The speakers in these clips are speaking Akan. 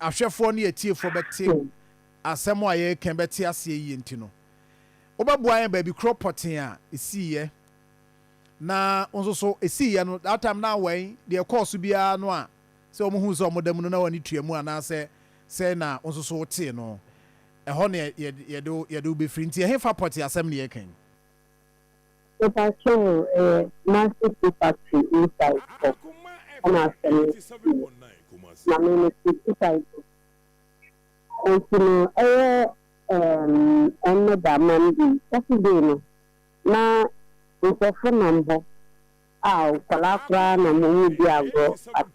ahwɛfoɔ ne atiefoɔ bɛte asɛm a yɛreka yi bɛte aseɛ yie nti no, wobɛboa yɛn baabi korɔ pɔtee a ɛsiiɛ. Na wo nso so, ɛsiiɛ no, that time na wɔn, deɛ ɛkɔɔ so biara no a, sɛ wɔn hu sɛ wɔn da mu no na wɔn ani tua mu anaasɛ sɛn na wo nso so wotee no, ɛhɔ na yɛde wo bɛfiri. Nti ɛhefa pɔtee asɛm na yɛreka yi? Mepakyɛw o, ɛyɛ Kumasi Tea Factory inside hɔ ɛna asɛm no sii no. Maame no te Kutai Bo. Enti no ɛyɛ ɛɛm ɛnnɛ da, Monday, Saturday no na nkurɔfo nam hɔ a nkwadaa koraa nam hɔ wɔredi agorɔ. But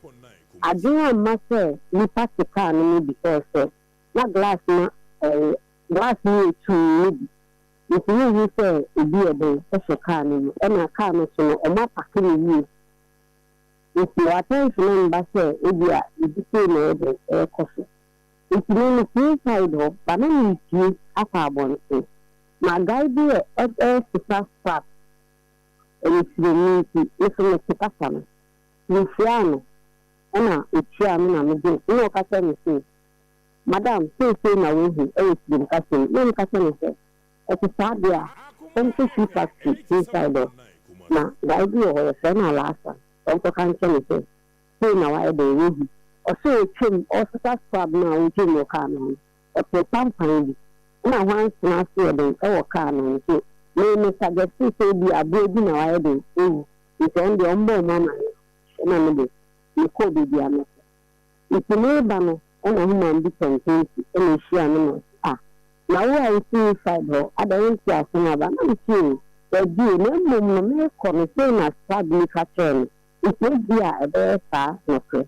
adwene amma sɛ nnipa te kaa no mu bi sɛ sɛ na glass ma ɛɛ glass no yɛ tumm no bi. Nti wonhu sɛ obi yɛ dɛn hyɛ kaa no mu ɛna kaa no so no ɔmo apake no yie nti wɔ attention mba sɛ ebia biribi sei na ɛyɛ dɛn ɛɛkɔ so nti me me pue side hɔ ba na me repue akɔ abɔnten ma guy bi ɛ ɛɛsesa strap ɛyɛ tirani nti me so me te kasa no me hyiaa no ɛna ɔtuaa me na me gyee ɛna ɔka kyerɛɛ me sei Madam, seisei na woahu wɔ tirim kasa mu. Na me ka kyerɛ no sɛ, Ɛte saa deɛ a, fa me kɔ shoe factory inside hɔ, na guy bi wɔ hɔ, yɛfrɛ no Alaasa, fa me kɔka nkyerɛ no sɛ, sei na wayɛ dɛn, wahu. Ɔse ɔtwam, ɔresesa scrub no a ɔretwam wɔ car no ho no, ɔtee pampan bi, ɛna hwanson ase yɛ den wɔ car no ho, nti me, me suggeste sɛ ebia aboa bi na wayɛ dɛn, wawu, nti ɔno deɛ ɔmmɔ wɔn amanneɛ, ɛna me de, mekɔɔ baabi a mɛkɔ. Ntsi mereba no na human bi tɔn penti na ohyiaa me na ɔse ah na wo a etse Woodside hɔ adɛn wonntse ase na aba? Na mese oo dabi o na mbom no merekɔ no sei na Spag ni ka kyerɛɛ me ntsi ebi a ɛbɛyɛ saa nokorɛ.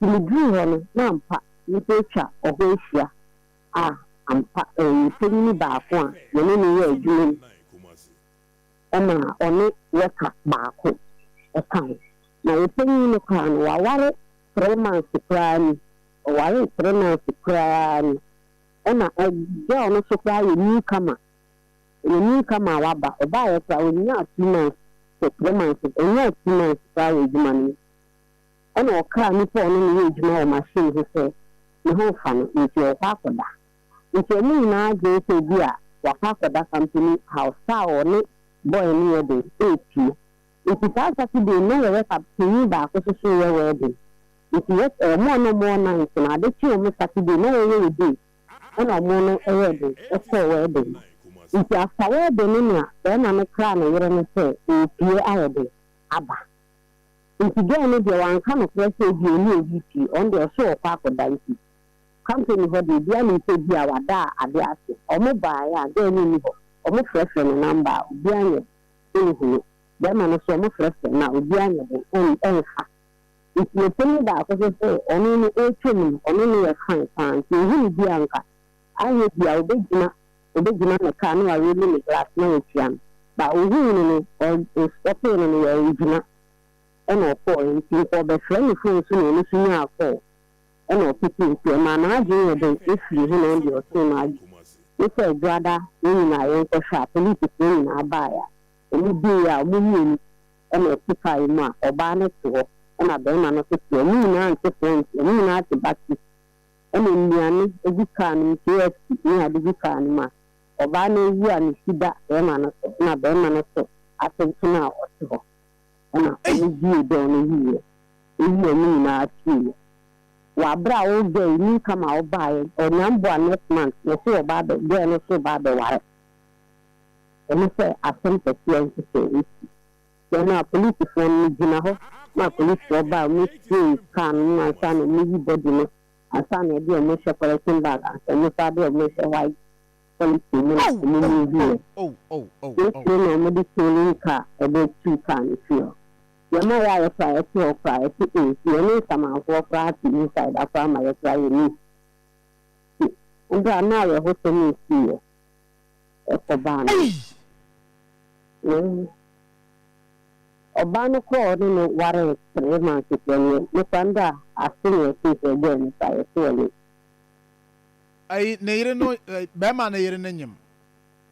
Ntsi medurii hɔ no na ampa nyimpa etwa ɔhɔ ehyia ah ampa ɔyɛ panyin baako a yɛne no yɛɛ edwuma mu. ɛna ɔne worker baako ka ho. Na wo panyin no koraa no waware three months koraa ni, ɔwaree three months koraa ni. Ɛna girl no nso koraa yɛ new comer, ɔyɛ new comer a waba, ɔbaeɛ koraa ɔnyaa two months to three months, ɔnyaa two months koraa wɔ adwuma no mu. Ɛna ɔkaa nipa a ɔne no yɛ adwuma wɔ machine ho sɛ ne ho mfa no, nti ɔrekɔ akɔda. Nti ɔmo nyinaa dwene sɛ ebi a waka akɔda company house, ka a ɔne boy no yɛ den eetie. Nti saa Saturday no na yɛwɛ ka panyin baako so so reyɛ wedding. Nti yɛ ɔmo a na ɔmo wɔ night no ade kyee ɔmo Saturday na yɛyɛ yɛ day ɛna ɔmo no yɛɛ den kɔɔ wedding no. Nti after wedding no nea bɛɛma no kraa ne yere no sɛ oopue ayɛ den aba. Nti girl no deɛ wanka nokorɛ sɛ ebia ɔne obi pue, ɔno deɛ ɔse ɔɔkɔ akɔda nti. Company hɔ deɛ obiara nim sɛ ebia wada ade ase. Ɔmo baeɛ a girl no nni hɔ, ɔmo frɛfrɛ no number a obiara nyɛ den nhu no. Bɛɛma no nso ɔmo frɛfrɛ no a obiara nyɛ den nfa. Nti me panin baako hwɛ sɛ ɔno no ɛretwa mu no ɔne no yɛ fine paa nti ohu no bi a nka anyɛ ebia obegyina obegyina me car na wa roll me glass na watua me but ohuu no no ɔ ɔstɔpee no no wangyina ɛna ɔkɔɔɛ nti nka ɔbɛfrɛ me phone so na ɔno nso nyaa call. na ɔpetee nti ɔmaa n'adwene yɛ den fii ho na ɛnde ɔtee no adi ne sɛ Dwoada yɛn nyinaa yɛnkɔhwɛ a polisifo nyinaa baeɛ a wɔdui a wɔn mmienu na ɛte kaa yi mu a ɔbaa no te hɔ na barima no nso te hɔ wɔn nyinaa nte fɔɔ nti wɔn nyinaa te battery na nnuane gu kaa no mu KFC ne ade gu kaa no mu a ɔbaa no awu a ne ti da barima no so na barima no so atenten a ɔte hɔ. na Ei! ɔmo gyee dɔɔ no yiye. Eyi a ɔmo nyinaa tee no, wɔ aber a ɔwo gɛɛ yi nyi kama ɔbaeɛ no, ɔnyaa mboa next month na ɔse ɔba abɛ gɛɛ no so reba abɛware. Ɔno sɛ asɛm kɛseɛ nsesɛ esi. Dɛn no a polisifoɔ no mo gyina hɔ ma apolisifoɔ baa ɔmo siee car no mu ansa na ɔmo yi body no ansa na ɛde ɔmo rehyɛ polythene bag ansa ɔmo san de ɔmo rehyɛ white policy mu na ɔmo mu hu yɛ. Wotiri na ɔmo de towing car ɛbɛ tu car no fie hɔ. Deɛ ɛma yɛayɛ koraa yɛte hɔ koraa yɛse oh nti yɛne nsamanfoɔ koraa te inside a koraa ma yɛ koraa yɛ miss nti ɛberɛ a na awerɛhosɛm nsiiɛ ɛkɔ baa no no ɔbaa no kɔɔ ne no waree three months deɛ neɛ me koraa nda ase na yɛtee sɛ girl no koraa yɛse ɔyɛ Ayi ne yere no barima no yere no nyem.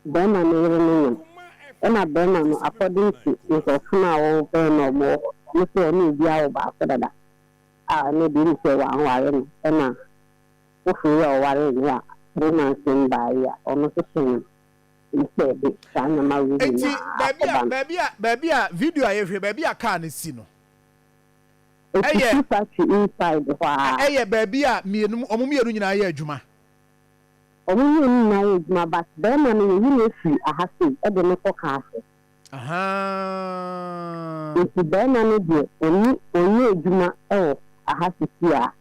Barima no yere no nyem. Ɛna barima no according to nkurɔfo no a wɔwɔ bɛn na wɔwɔ hɔ no sɛ ɔne obi awo baako dada a ɛno deɛ ɛne sɛ wanware no ɛna foforo yi a ɔwaree no a three months no baa yi a ɔno nso so nyem ɛne sɛ ɛde saa nneɛma wei nyinaa akɔba no. Baabi a baabi a video a yɛhwɛ baabi a car no si no. Ofisi factory inside hɔ a. Ɛyɛ baabi a mmienu wɔn mmienu nyinaa yɛ adwuma. Wɔn mmienu nyinaa yɛ adwuma but barima no yɛyi no afi aha sei ɛde no kɔ car so. Ahaa. Nti barima no deɛ ɔnni ɔnyɛ adwuma ɛwɔ aha sisi a.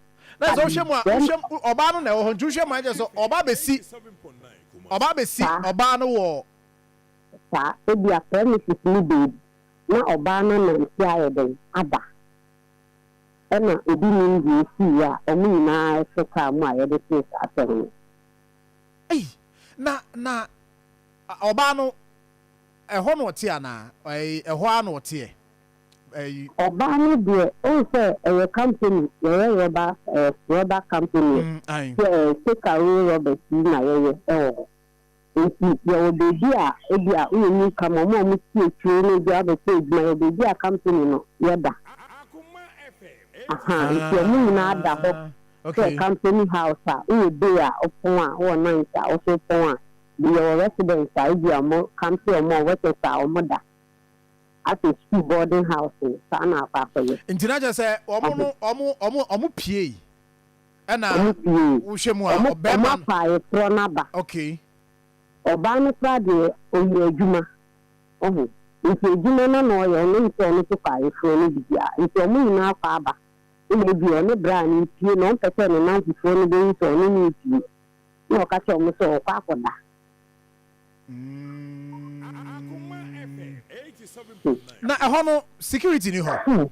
Na sɛ wohwɛ mu a wohwɛ ɔbaa no na ɛwɔ hɔ nti wohwɛ mu a ɛkyɛ sɛ ɔba abɛsi ɔba abɛsi ɔbaa no wɔ. Saa ebi a premises ne baabi. na ɔbaa no anante ayɛ dɛn aba na obi nim deɛ ɛsiiɛ a wɔn nyinaa hyɛ kaa mu a yɛde tee saa asɛm no. Ei, na, na ɔbaa no, ɛhɔ na ɔte anaa? Ei, ɛhɔ ara na ɔteɛ. Ei. Ɔbaa no deɛ, wohu sɛ ɛyɛ company, yɛyɛ rɔba, ɛɛ, rɔba company, ɛɛ, take away rubbish yi na yɛyɛ wɔ hɔ. Enti yɛwɔ baabi a ebia wonni ka ma wɔn a wɔte akyiri no de abɛhyɛ adwuma, yɛwɔ baabi a kampani no yɛ da. Ahaa, enti wɔn nyinaa da hɔ sɛ kampani house a wowɔ bay a wopɔn a, wowɔ night a wo nso wopɔn a, yɛwɔ residents a ebia wɔkampee wɔn a workers a wɔda asɛ sukuu boarding house no, saa na wɔakɔ akɔyɛ. Nti na kyerɛ sɛ wɔn no wɔn wɔn wɔn piei. Ɛna wohwɛ mu a ɔbɛɛma no. Ɔmo afa ayeforɔ no aba. Okay. Ɔbaa no koraa deɛ ɔyɛ adwuma wahu nti adwuma no na ɔyɛ ɔno nsɛ ɔno nso kɔ ayeforɔ no bibia nti ɔmo nyinaa kɔ aba ɛna ebia ɔne braa no mpie na ɔmpɛ sɛ ne nanfofoɔ no bɛhu sɛ ɔne no repie na ɔka kyerɛ ɔmo sɛ ɔkɔ akɔda. Na ɛhɔ no security ni hɔ?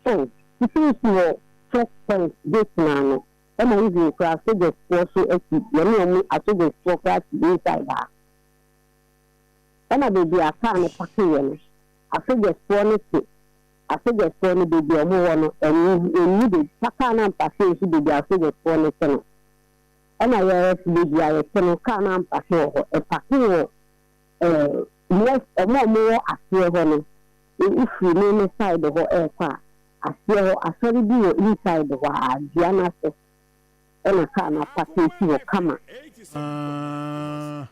So wusiesie wɔ First Point gate no ano ɛna wudi nkura soldiers foɔ so akyi yɛne ɔmo a soldiers foɔ koraa te inside ha ɛna baabi a car no pake yɛ no a soldiers foɔ no te a soldiers foɔ no baabi a ɔmo wɔ no ɛnni ɛnni baabi fa car no ampake nsi baabi a soldiers foɔ no te no ɛna yɛref baabi a yɛte no car no ampake wɔ hɔ ɛpake wɔ Ɛɛ, yes, wɔn a wɔwɔ aseɛ hɔ no, wo firi me me side hɔ ɛɛkɔ a, aseɛ hɔ, asɔre bi wɔ inside hɔ aa, dua no ase ɛna car no apake si hɔ kama. Aah,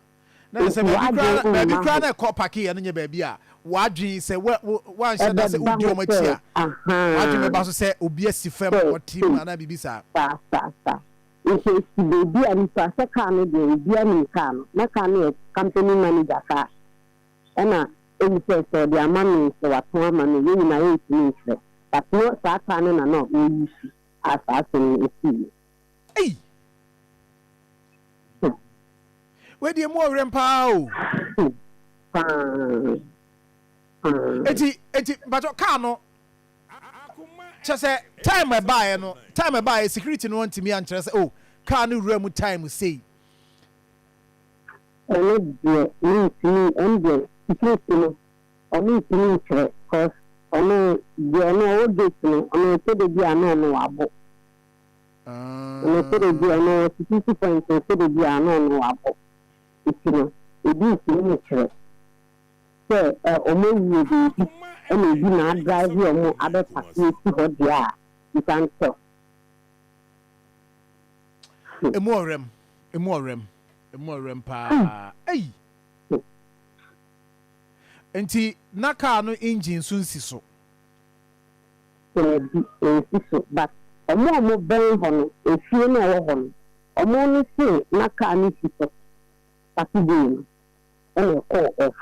na kyerɛ sɛ baabi koraa na, baabi koraa na ɛkɔ pake yɛ no nyɛ baabi a w'adwene sɛ wo, wo, woanhyɛ da sɛ wodi wɔn akyi a, w'adwene bɛba so sɛ obi asi fam na ɔte mu anaa biribi saa. Saa, saa, saa. Nso si baabi a nipa sɛ car no deɛ obiara nim car no na car no yɛ company manager car ɛna ohu sɛ sɛ ɔde ama me sɛ watɔn ama me yɛn nyinaa yɛntumi nkyerɛ but no saa car no na na ɔɔ use a saa asɛm no ɛsii no. Ei! Hmm. Wei deɛ mu ɔwerɛm paa o. Hmm. Paa. Paa. Eti eti mpatsɔ car no. Kyerɛ sɛ time a ɛbaeɛ no, time a ɛbaeɛ security no antumi ankyerɛ sɛ oh car no wura mu time sei. Ɛno deɛ mentumi, ɛno deɛ security no ɔno ntumi nkyerɛ cos ɔno deɛ ɔno ɔwɔ gate no ɔno ɛsɛ da biara na ɔno wabo. Ɔno ɛsɛ da biara ɔno wɔ security point ɛsɛ da biara na ɔno wabo. Nti no ɛbi ntumi nkyerɛ. sɛ wɔn awuo baabi na obi na adrive wɔn abɛ pake asi hɔ deɛ a, nsa nkyɛ wo. Emu ɔwerɛm, emu ɔwerɛm, emu ɔwerɛm paa, ei! Nti na kaa no engine nso nsi so? Daabi, ensi so but wɔn a wɔbɛn hɔ no, efie no a ɛwɔ hɔ no, wɔn no se na kaa no si so Saturday no. ɛna ɔkɔɔ off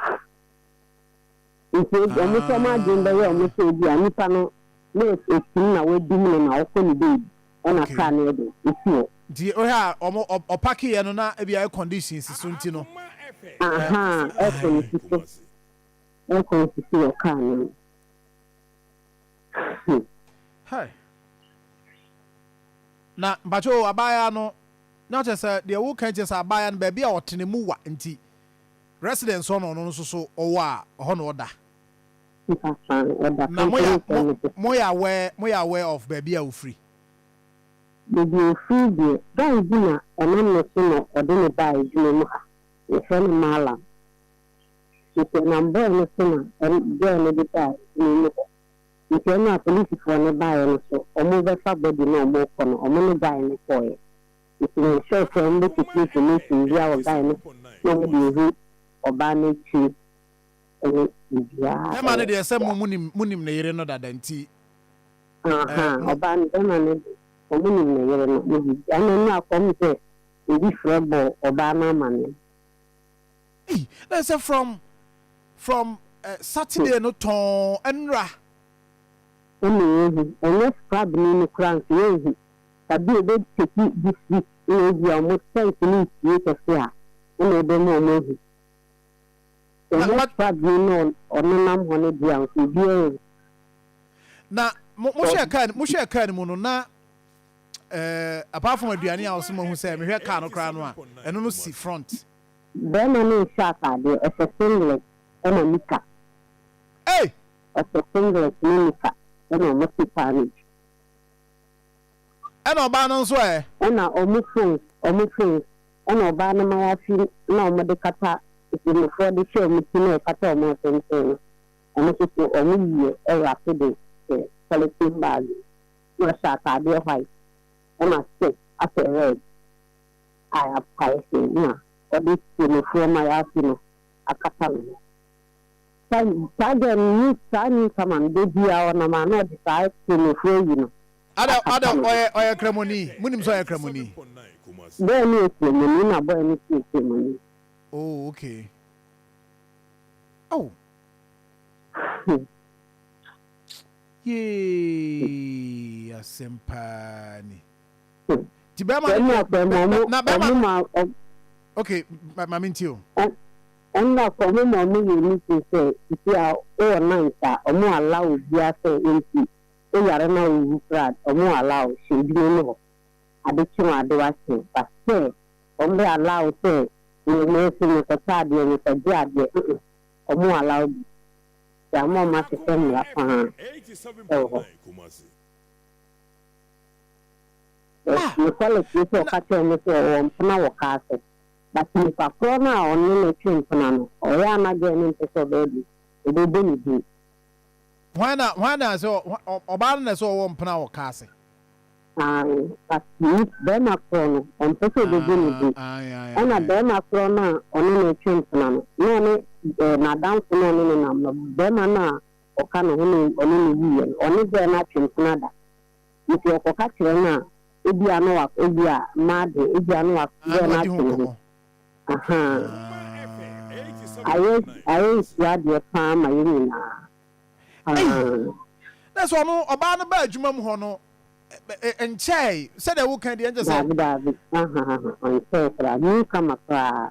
nti ebi ɔmo nso ɔmo adwene bɛyɛ ɔmo sɛ ebi a nipa no na esim na wadum no na ɔkɔ ne baabi ɛna car no ɛde esi hɔ. Nti wohwɛ a ɔmo ɔpaki yɛ no na ebi a air condition si so nti no. Ahaa air con si so air con si so wɔ car no mu. Hey! Na mpakyɛ o, abaayaa no, na kyerɛ sɛ deɛ wo ka kyerɛ sɛ abaayaa no baabi a ɔte no mu wa nti residence hɔ na ɔno nso so ɔwɔ a ɛhɔ na ɔda. Na mo yɛ mo mo yɛ aware mo yɛ aware of baabi a ofiri. Baabi a ofiri deɛ guy bi na ɛnam ne so na ɔde no baa adwuma mu ha yɛfrɛ no Mallam Nso ɛnam boy no so na ɛm girl no de baa sukuu no hɔ. Nti ɛna a polisifoɔ no baeɛ no so ɔmo bɛfa body no a ɔmo kɔ no ɔmo ne guy no kɔeɛ. Nti me sure sɛ ɔmo bɛ keep information biaa wɔ guy no hɔ na ɔmo de ahu ɔbaa no akyire ɛne biribiaa Bɛma no ɛwɔ deɛ sɛ mo monim monim ne yere no dada nti Aha ɛɛ mo. ɔbaa no bɛma no de ɔmo nim ne yere no ne biribiaa ɛna ɛna kɔm sɛ obi frɛ bɔɔ ɔbaa no amaneɛ. Ei na sɛ from from Saturday no tɔn ɛnra. Ɛma yɛhu ɛnyɛ scrabni no koraa nso yɛnhu ɛbi ɔbɛ take this week na ebi a ɔmo strength no nsie kɛse a ɛna ɛbɛma ɔmo ahu sɛ ɛnyɛ scrabni no ɔnenam hɔ no deɛ nso obiara nhu. Na mohwɛ car mohwɛ car no mu no na ɛɛ apart from aduane a ɔsɛ mo ahu sɛ mehwɛ car no koraa no a ɛno no si front. Barima no nhyɛ ataadeɛ, ɔhyɛ singlet ɛna nika. Ei! Ɔhyɛ singlet ne nika ɛna ɔmo te car no akyi. Ɛna ɔbaa no nso ɛ? Ɛna ɔmo phone, ɔmo phone ɛna ɔbaa no mayafi na ɔmo de kata, Ɔtemmufoɔ de hyɛ ɔmo ti na ɛkata ɔmo ɔtenten no, ɔmo nso so ɔmo yie ɛwrape de hyɛ polythene bag mu. Na ɔhyɛ ataadeɛ white ɛna skirt ahyɛ red. a yɛapae sɛ na wɔde Tiemufoɔ ma yɛafe no akata ne ho. Sa Sagan ne saa newcomer no, da biara ɔnam a na ɔde saa Tiemufoɔ ayi no Ada, akata Ada, ne ho. ɔyɛ, ɔyɛ Kramoni. Monim sɛ ɔyɛ Kramoni? Boy no yɛ Tiemuni na boy no nso yɛ Tiemuni. Oh, okay. Oh! Hmm. Yay! Asɛm paa ni. o. Ti bɛrima no deɛ bɛrima no na bɛrima no ok maame nti o. Ɛnna kɔ ɔmo ma ɔmo yɛ ni so sɛ nti a ɔwɔ night a ɔmo allow obia sɛ ɔnti ɔyare na ɔwu koraa ɔmo allow hyɛ edwuma mu hɔ ade kye wɔn ade wakye but sɛ ɔmo bɛ allow sɛ yɛ nɛɛse me kɔ tɔ adeɛ me kɔ gye adeɛ mm ɔmo allow bi nti ama ɔmo ahyehyɛ mmra paa ɛwɔ hɔ. Na nokwarem ne sɛ ɔka kyerɛɛ no sɛ ɔwɔ mpena wɔ kaa so, but nipa korɔ no a ɔne no twe mpena no, ɔyɛ a na girl no mpɛ sɛ ɔbɛyɛ de, ɔbɛbɔ ne din. Hwan na hwan na sɛ ɔbaa no na sɛ ɔwɔ mpena wɔ kaa se? Ae, but ni barima korɔ no, ɔmpɛ sɛ ɔbɛbɔ ne din. Ae, ae, ae, Ɛna ae. barima korɔ no a ɔne no twe mpena no, na ɔne eh, n'adamfo na ɔne no nam no, barima no a ɔka no ho na ɔne no wuiɛ no, ɔne berɛ no atwem sene ada. Enti ɔkɔka kyerɛ no a, ebia na wa, ebia, mma adwene, ebia na wa, Ah, berɛ na no wadi ho atwem ho. nkɔmmɔ. Ahaa. Ah. Ayɛ, ayɛ nsuadeɛ paa ma yɛn nyinaa. Ei! Ahaa. Na sɛ ɔno, ɔbaa no baa adwuma mu hɔ no, ɛ, ɛ, ɛnkyɛɛe, sɛdeɛ woka deɛ, ɛnkyɛ sɛ. Daabi, daabi. Ahahaha, ɔnkyɛɛe koraa, newcomer koraa.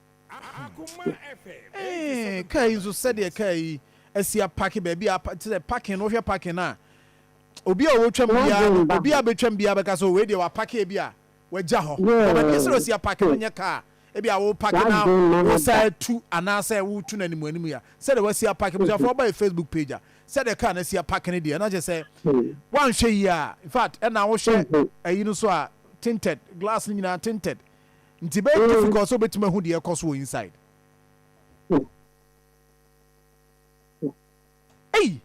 Ee, kaa yi nso sɛdeɛ kaa yi asi apake baabi a apa- te sɛ parking no wohwɛ parking no a obi a ɔtwam Wagye biara no mba obi a hɔ. bɛtwam biara bɛka sɛ "Oh, wei deɛ wapake bi a wagya hɔ na baabi a ɛsɛ dɛ ɔsi Yeah. apake no nyɛ kaa a ebi a wopake na Wagye mma hɔ wosan da. atu anaasɛ wotu no anim anim yi a sɛdeɛ wasi apake abusuafoɔ ɔba yɛ facebook page a sɛdeɛ kaa no asi apake no deɛ na kyerɛ sɛ Hmm. woanhwɛ yie a infact ɛna wohwɛ Ehe. ayi no so a tinted glass no nyinaa tinted Nti ɛbɛyɛ difficult sɛ wobɛtumi ahu deɛ ɛkɔ so wɔ inside. Ei!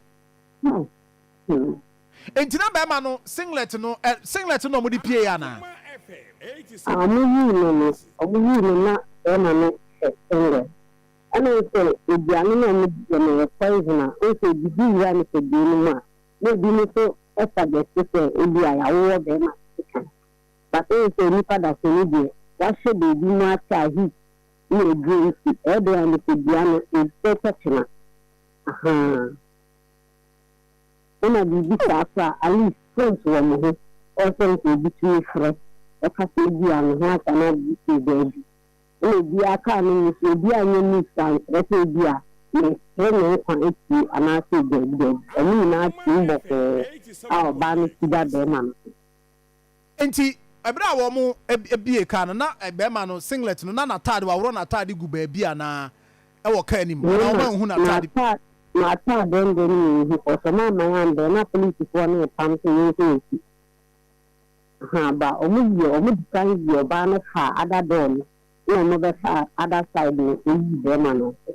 Nti na bɛɛma no singlet no, ɛ, singlet no na wɔde pieeɛ anaa? Ah, wɔyii no no, wɔyii no na bɛɛma no hyɛ singlet. Ɛna wohu sɛ aduane no a wɔdiiɛ no ɛyɛ poison a, wohu sɛ ɛdidi wura nipadua no mu a, na ebinom nso suggest sɛ ebia yɛawowɔ bɛɛma no sekan. Na seesei sɛ nnipa dasani deɛ, wɔahyɛ baabi mu ate a heat ne aduro nti, ɛyɛ dɛn a nipadua no ɛretwa kyena? Ahaa. Ɛna biribi saa so a, at least phones wɔ mo ho, ɛwɔ sɛ nka obi tumi frɛ, ɛka sɛ ebia ne ho ata no ade sei baabi. Ɛna obiara kaa ne mu so, obi anyɛ news ankyerɛ sɛ ebia meresere me nkwa atie anaa sei, daabi daabi. Wɔn nyinaa team bɔkɔɔ a ɔbaa no ti da bɛrima no so. Enti bere a wɔbue kaa no, na barima no singlet no, na n'atade, wɔaworɔ n'atade gu baabi anaa wɔ kaa no mu, anaa Mema wɔanhu n'atade. m'ata, m'atade nde ne menhu, ɔsɛ mamman anbɛ, na polisifoɔ no repam sɛ yɛnkɔ yɛn akyi. Aha, ba, wɔyɛ, wɔdikan yii ɔbaa no faa other door no, ɛna wɔbɛfaa other side no, wɔyii barima no nso.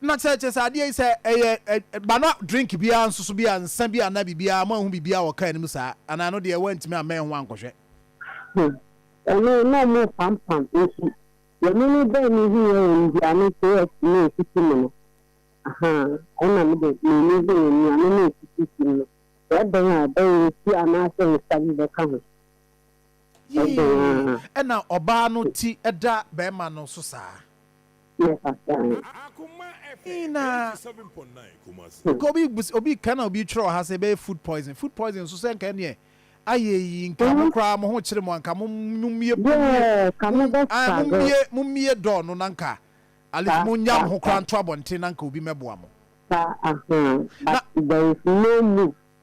Na sɛ kyerɛ sɛ adeɛ yi sɛ ɛyɛ ɛ ba na drink biara nso so bi a nsa bi anaa biribiara mo anhu biribiara wɔ car no mu saa anaa ɛno deɛ woantumi ammɛn ho ankɔhwɛ. Hmm ɛno na ɔmo pam pam nti deɛ me me bɛɛ me hu yɛ wɔn dua ne KFC ne nsisi mu no ahaa ɛna me de me ni hu wɔn nuane ne nsisi si mu no sɛ ɛbɛn a ɛbɛyɛ nsuo anaa sɛ nsa bi bɛka ho. Yii na ɔbaa no ti da bɛɛma no so saa. Yii na nka obi bus obi ka na obi twerɛ wɔ ha sɛ ɛbɛyɛ food poison food poison nso sɛ nka ɛneɛ ayɛ yi nka mo koraa mo ho kyere mo anka mo mumie mumie mumie mumie dɔɔ no na nka alif mo nya mo ho koraa nto abɔnten na nka obi mɛboa mo. But there is no move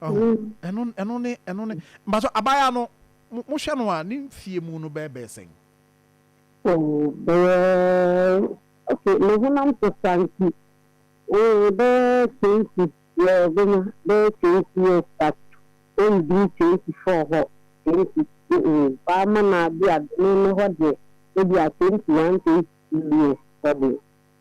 ɛno ɛno ne ɛno ne mbaso abaayaa no mo hwɛ no a ne nfie mu no bɛyɛ bɛyɛ sɛn. Oh bɛyɛ okay ne honam sesa nti eh bɛyɛ twenty yɛ bɛnya bɛyɛ twenty years but ɔnduru twenty four hɔ twenty eh eh paa mana bi a ne ne hɔ deɛ ebi a twenty one twenty two years hɔ deɛ.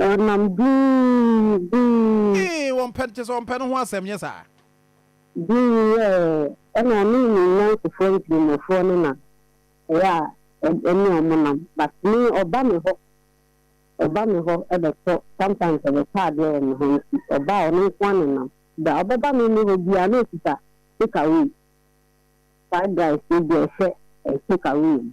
Ɔnam buu, buu. Ee, wɔmpɛ, kyerɛ sɛ wɔmpɛ no ho asɛm, nyɛ saa? Buu yɛ, ɛna ɔne ne nnansefoɔ nkramofoɔ no na ɛyɛ a ɛne wɔn nam, but me ɔba me hɔ, ɔba me hɔ bɛtɔ, sometimes ɔbɛtɔ adeɛ wɔ me hɔ, nti ɔba a ɔno nko ara na ɛnam, berɛ a ɔbɛba me me hɔ biara na ɔkita take away, fried rice no bi a ɔhyɛ take away mu.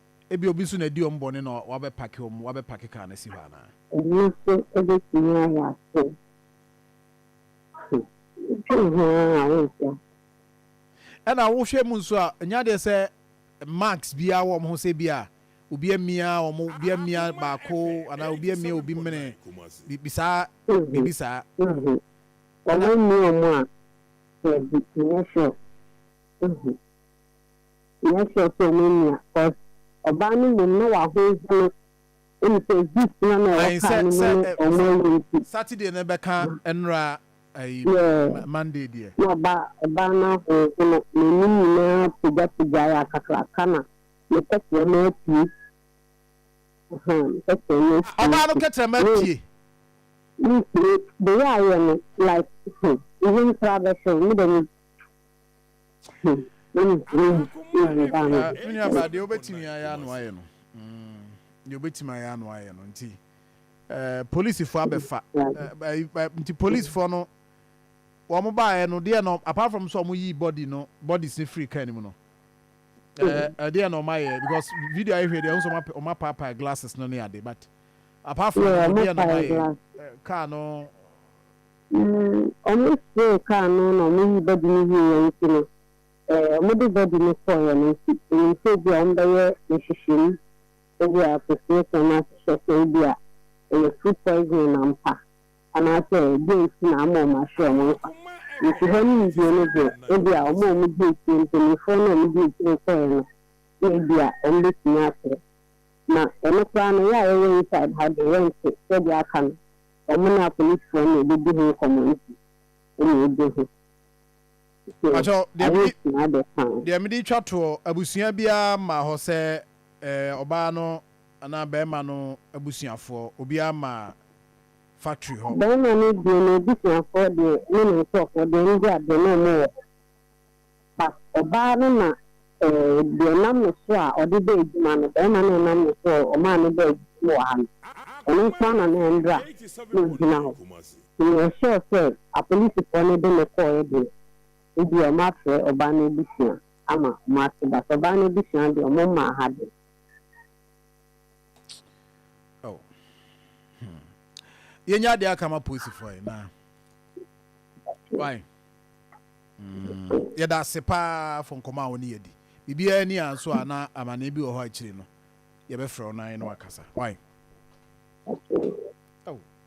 Ebia obi nso na adi wɔn bɔne na wabɛpake wɔn, wabɛpake kar no asi hɔ anaa? Ɛno nso bɛtumi ayɛ asɛm. So wodwen ho ara a wonte ase? Ɛnna wohwɛ mu nso a, ɛnyɛ adeɛ sɛ marks biara wɔ wɔn ho sɛ ebia obi amia wɔn, obi amia baako anaa obi amia obi mene, biribi saa, biribi saa. Wɔamia wɔn a, daabi, ɛnyɛ sure. Nyɛ sure sɛ ɔno nua cos ɔbaa no mmom na w'ahonhono ɛm sɛ gift na na ɛwɔ car no mu ne ɔmo awu nti. Saturday no bɛka ɛnora ɛyi Monday deɛ. Na ɔbaa ɔbaa no ahonhono n'anim nyinaa pagya pagyae akakraka na ne kɛtrɛma apue ahaa ne kɛtrɛma apue nti. Ɔbaa no kɛtrɛma apue. Mensure the way ayɛ no like hmm meho nkora bɛhwɛ wo medɛ me. Menuabaa deɛ wobɛtumi ayɛ ano ayɛ no deɛ wobɛtumi ayɛ ano ayɛ no nti polisifoɔ abɛfa nti polisifoɔ no wɔn baeɛ no deɛ no apart from sɛ wɔn yi body no body si free car no mu no ɛdeɛ na wɔn ayɛ because video ayɛ hwɛ deɛ wɔn sɛ wɔn apaapae glasses no ne ade but apart from deɛ na wɔn ayɛ car no. Ber a wɔsee kaar no na wɔyii body no wieeɛ ntsi no, wɔde body no kɔɔeɛ no ntsi, minyim sɛ bi a wɔbɛyɛ nhwehwɛmu dze appreciation no ahwehwɛ sɛ bi a ɔyɛ food poisoning ampa anaasɛ dɛn ntsi na ama wɔahwe wɔn nkwa. Ntsi hɔ no nyimdzee no dze, bi a wɔn a wɔdzi ekyir, mpanyimfoɔ no a wɔdzi ekyir kɔɔeɛ no na bi a wɔbɛtumi akyerɛ. Na ɔno koraa no, yɛ a yɛwɔ inside ha dze, yɛnntse sɛdeɛ aka no. Wɔn ne apolisifoɔ na ɛbɛdi ho nkɔmmɔ nti na ɛgye ho so ayɛ sua de paa. Deɛ mede twa toɔ, abusua biara mmaa hɔ sɛ ɔbaa no anaa barima no abusuafoɔ, obiara mmaa factory hɔ. Barima no deɛ n'abusuafoɔ deɛ ne ne nkurɔfoɔ deɛ ɛno deɛ adeɛ na wɔwɔ hɔ. But ɔbaa no na deɛ nam ne so a ɔde bɛ adwuma no bɛɛma no ɛnam ne so a ɔmaa no bɛ adwuma no wɔ ha no ɔno nko ara na na mbra no gyina hɔ nti me yɛ sure sɛ apolisifoɔ no de no kɔɔɛ deɛ ebia ɔmo afrɛ ɔbaa no abusua ama ɔmo ate but ɔbaa no abusua deɛ ɔmo mmaa ha deɛ. Oh. Hmm. Yɛnya adeɛ aka ma polisifoɔ yi na why? Yɛda ase paa for nkɔmmɔ a wo ne yɛ di. Biribiara ni a nso a na amanee bi wɔ hɔ a akyiri no yɛbɛfrɛ wo na yɛne wo akasa. Wai? Oh,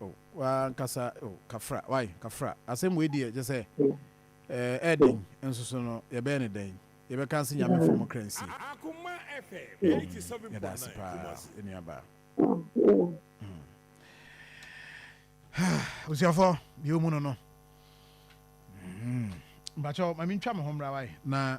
oh, wankasa, oh, kafra, wai, kafra. Asɛm wei deɛ kyɛ sɛ ɛɛden nso so no yɛbɛyɛ ne dɛn? Yɛbɛka nse nyame fɔ mo kra nsie. Yɛda ase paa, nnuabaa. Abusuafo, deɛ omu no no. Mpakyɛw ma mintwa me ho mmra wae na